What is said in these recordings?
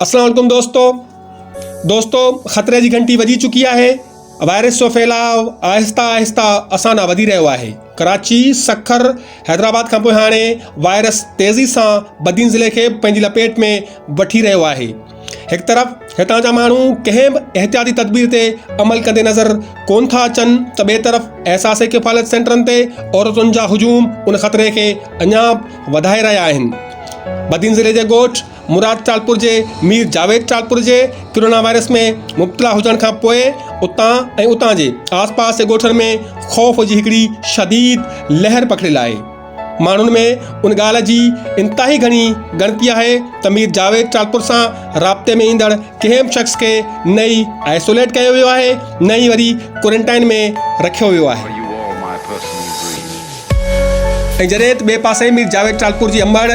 السلام علیکم دوستو دوستو خطرے جي گھنٽي وڄي چڪي آهي وائرس جو ڦيلاء آهستي آهستي اسان ڏانهن وڌي رهيو آهي ڪراچي سکر حيدرآباد کان پوء هاڻي وائرس تيزي سان بدين ضلعي کي پنهنجي لپيٽ ۾ وٺي رهيو آهي هڪ طرف هتان جا ماڻهو ڪنهن به احتياطي تدبير تي عمل ڪندي نظر ڪون ٿا اچن ته ٻئي طرف احساس ڪفالت سينٽرن تي عورتن جا هجوم ان خطري کي اڃا وڌائي رهيا آهن بدين ضلعي جي ڳوٺ مراد ٽالپور جي مير جاويد ٽالپور جي ڪرونا وائرس ۾ مبتلا هجڻ کان پوء اتان ۽ اتان جي آس پاس جي ڳوٺن ۾ خوف جي هڪڙي شديد لهر پکڙيل آهي ماڻهن ۾ ان ڳالهه جي انتهائي گهڻي ڳڻتي آهي ته مير جاويد ٽالپر سان رابطي ۾ ايندڙ ڪنهن به شخص کي نه ئي آئسوليٽ ڪيو ويو آهي نه ئي وري ڪورنٽائن ۾ رکيو ويو آهي ۽ جڏهن ته ٻئي پاسي مير جاويد ٽالپر جي امڙ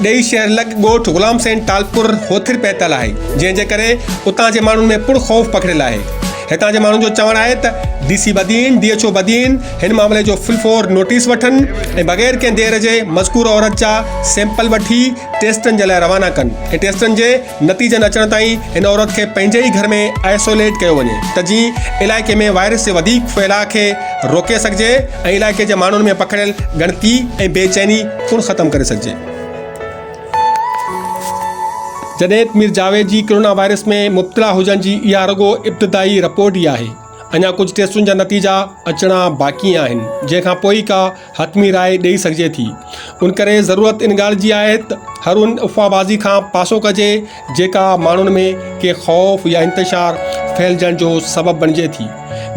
ڏيئي شهر لڳ ڳوٺ غلام حسين ٽالپر هوٿر پهتل آهي جنهن جي ڪري اتان جي ماڻهن ۾ پڻ خوف پکڙيل آهي هتان جي ماڻهن جو چوڻ آهي ته D C Badin, D H O Badin هن معاملي جو فل فور نوٽيس وٺن ۽ بغير ڪنهن دير جي مذڪوره عورت جا سيمپل وٺي ٽيسٽن جي لاء روانا ڪن ۽ ٽيسٽن جي نتيجن اچڻ تائين هن عورت کي پنهنجي ئي گهر ۾ آئسوليٽ ڪيو وڃي ته جيئن علائقي ۾ وائرس جي وڌيڪ ڦهلاء کي روڪي سگهجي ۽ علائقي جي ماڻهن ۾ پکڙيل ڳڻتي ۽ بي چيني پڻ ختم ڪري سگهجي. جڏهت مير جاويد جي ڪرونا وائرس ۾ مبتلا هجڻ جي اها رڳو ابتدائي رپورٽ ئي آهي، اڃا ڪجهه ٽيسٽن جا نتيجا اچڻا باقي آهن، جنهن کان پوء ئي ڪا حتمي راء ڏئي سگهجي ٿي، ان ڪري ضرورت ان ڳالهه جي آهي ته هر ان افواهبازي کان پاسو ڪجي جيڪا ماڻهن ۾ ڪي خوف يا انتشار ڦهلجڻ جو سبب بڻجي ٿي.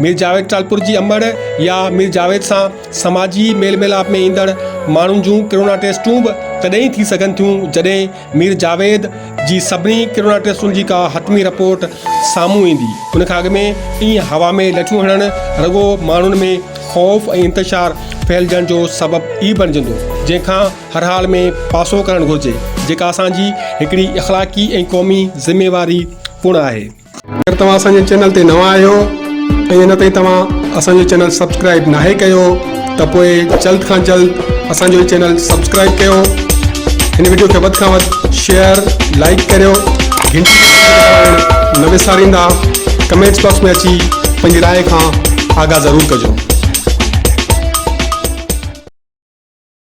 مير جاويد ٽالپر جي امڙ يا مير جاويد سان سماجي ميل ميلاپ ۾ ايندڙ ماڻهن جون ڪرونا ٽيسٽون به تڏهن ئي ٿي سگهن ٿيون جڏهن مير جاويد جي سڀني ڪرونا ٽيسٽن جي ڪا حتمي رپورٽ سامهون ايندي. ان کان اڳ ۾ ائين هوا ۾ لٺيون هڻڻ رڳو ماڻهن ۾ خوف ۽ انتشار ڦهلجڻ جو سبب ئي بڻجندو جنهن کان هر حال ۾ پاسو ڪرڻ گهرجي، جيڪا اسان جي هڪڙي اخلاقي ۽ قومي ذميواري پڻ آهي. اگر توهان اسان جي چينل تي نوان آهيو ۽ اڃا تائين توهان اسان جو چينل سبسڪرائيب ناهي ڪيو ته پوء جلد کان جلد اسان جو هي چينل سبسڪرائيب ڪيو. هن وڊيو کي وڌ کان وڌ شيئر لائيڪ ڪريو. گهنٽي جي بٽڻ دٻائڻ نه وساريندا. ڪمينٽس باڪس ۾ اچي پنهنجي راء کان آگاهه ضرور ڪجو.